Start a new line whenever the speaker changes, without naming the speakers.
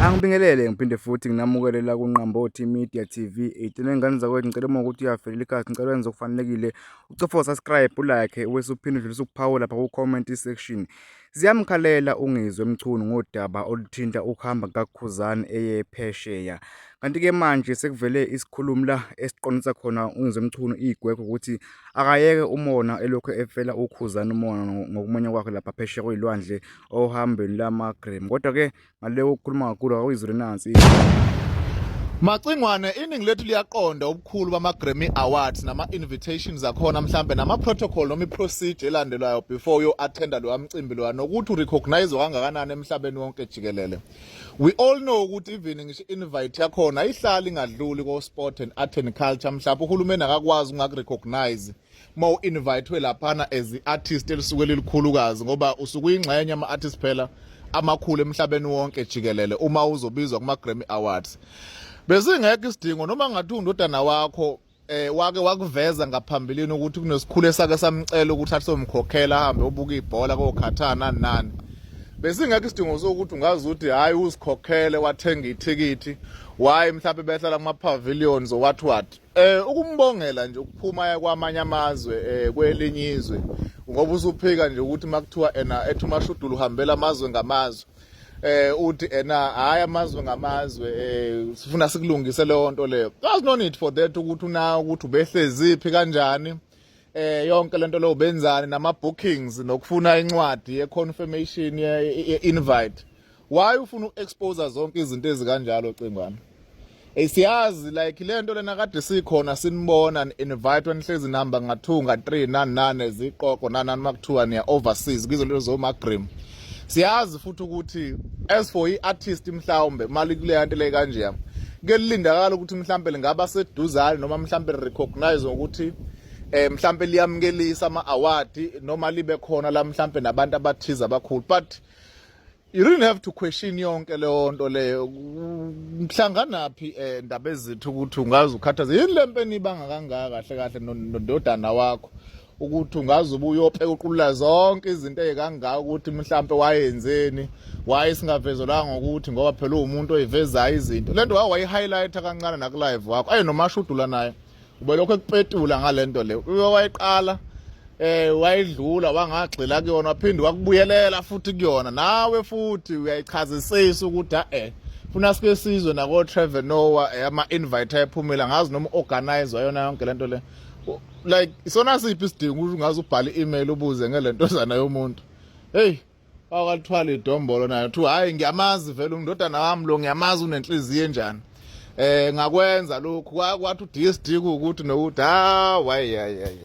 Angibingelele ngiphinde futhi nginamukele la kuNqambothi Media TV. Igcine ngane zakwethu ngicela uma ukuthi uyavelela ikhasi ngicela wenze okufanelekile. Ucofa subscribe ulike wese uphinde udlulisa uphawu lapha ku comment section. Ziyamkhalela uNgizwe Mchunu ngodaba oluthinta ukuhamba kukaKhuzani eye phesheya. Kanti-ke manje sekuvele isikhulumi la esiqondisa khona uNgizwe Mchunu igwegwe ukuthi akayeke umona elokhu efela uKhuzani umona ngokumenywa kwakhe lapha phesheya kwey'lwandle ohambeni lamagrem kodwa ke ngale ukukhuluma kakhulu awuyizule nansi Macingwane
iningi lethu liyaqonda ubukhulu bama-Grammy Awards nama-invitations akhona mhlambe nama-protocol noma i-procedure elandelwayo before uyo-attenda lowa mcimbi lowa nokuthi urecognizwe kangakanani emhlabeni wonke jikelele we all know ukuthi even ngisho invite yakhona ayihlali ingadluli ko-sport and art and culture mhlawumbe uhulumeni akakwazi ungakurecognize uma u-invitwe laphana as i-artist elisuke lilikhulukazi ngoba usuke uyingxenye ama-artist phela amakhulu emhlabeni wonke jikelele uma uzobizwa kuma-grammy awards besingekho isidingo noma ngathi undodana wakho eh wake wakuveza ngaphambilini ukuthi kunesikhulu esake samcela ukuthi asomkhokhela ahambe obuka ibhola kokhathana nani besingekho isidingo sokuthi ungazi ukuthi hayi usikhokhele wathenga ithikithi waye mhlawumbe behlala kuma pavilions or what what Eh ukumbongela nje ukuphuma kwamanye amazwe eh kwelinye izwe ngoba usuphika nje ukuthi makuthiwa ena ethi umashudulo uhambela amazwe ngamazwe eh uthi ena hayi amazwe ngamazwe eh sifuna sikulungise leyo nto leyo there's no need for that ukuthi una ukuthi ubehleziphi kanjani eh yonke lento leyo benzani nama bookings nokufuna incwadi ye confirmation ye invite why ufuna uexpose zonke izinto ezikanjalo cingwana Hey siyazi like lento lena kade sikhona sinibona invite wanihlezi number ngathunga 3 nani nane ziqoqo nanani makuthiwa niya overseas kizo lento zo magrim siyazi futhi ukuthi as for iartist mhlawumbe mali kule yanto le kanje yami kelindakala ukuthi mhlawumbe lingaba seduzane noma mhlawumbe recognize ukuthi eh mhlawumbe liyamukelisa ama award noma libe khona la mhlawumbe nabantu abathiza abakhulu but you really have to question yonke leyo nto leyo mhlanganaphi um eh, ndaba ezithi ukuthi ungaze ukhathaze yini le mpeni ibanga kangaka kahle kahle nondodana wakho ukuthi ungaze ubuye uyopheka uqulula zonke izinto ezikangaka ukuthi mhlampe wayenzeni waye singavezelwanga ukuthi ngoba phela uwumuntu oyivezayo izinto le nto waye wayi-highlighta kancane nakulive wakho aye nomashudula naye ubelokhu ekupetula ngale nto le uke wayiqala eh wayidlula wangagxila kuyona waphinde wakubuyelela futhi kuyona nawe futhi uyayichazisisa ukuthi eh funa sike sizwe nako Trevor Noah eh, ama invite ayephumela ngazi noma organize wayona yonke lento le like isona siphi isidingo ukuthi ngaze ubhale email ubuze ngelento zana yomuntu hey wakathwala idombolo nayo kuthiwa hhayi ngiyamazi vele undodana wami lo ngiyamazi unenhliziyo enjani eh ngakwenza lokhu kwathi uDSD ukuthi nokuthi ha wayi hayi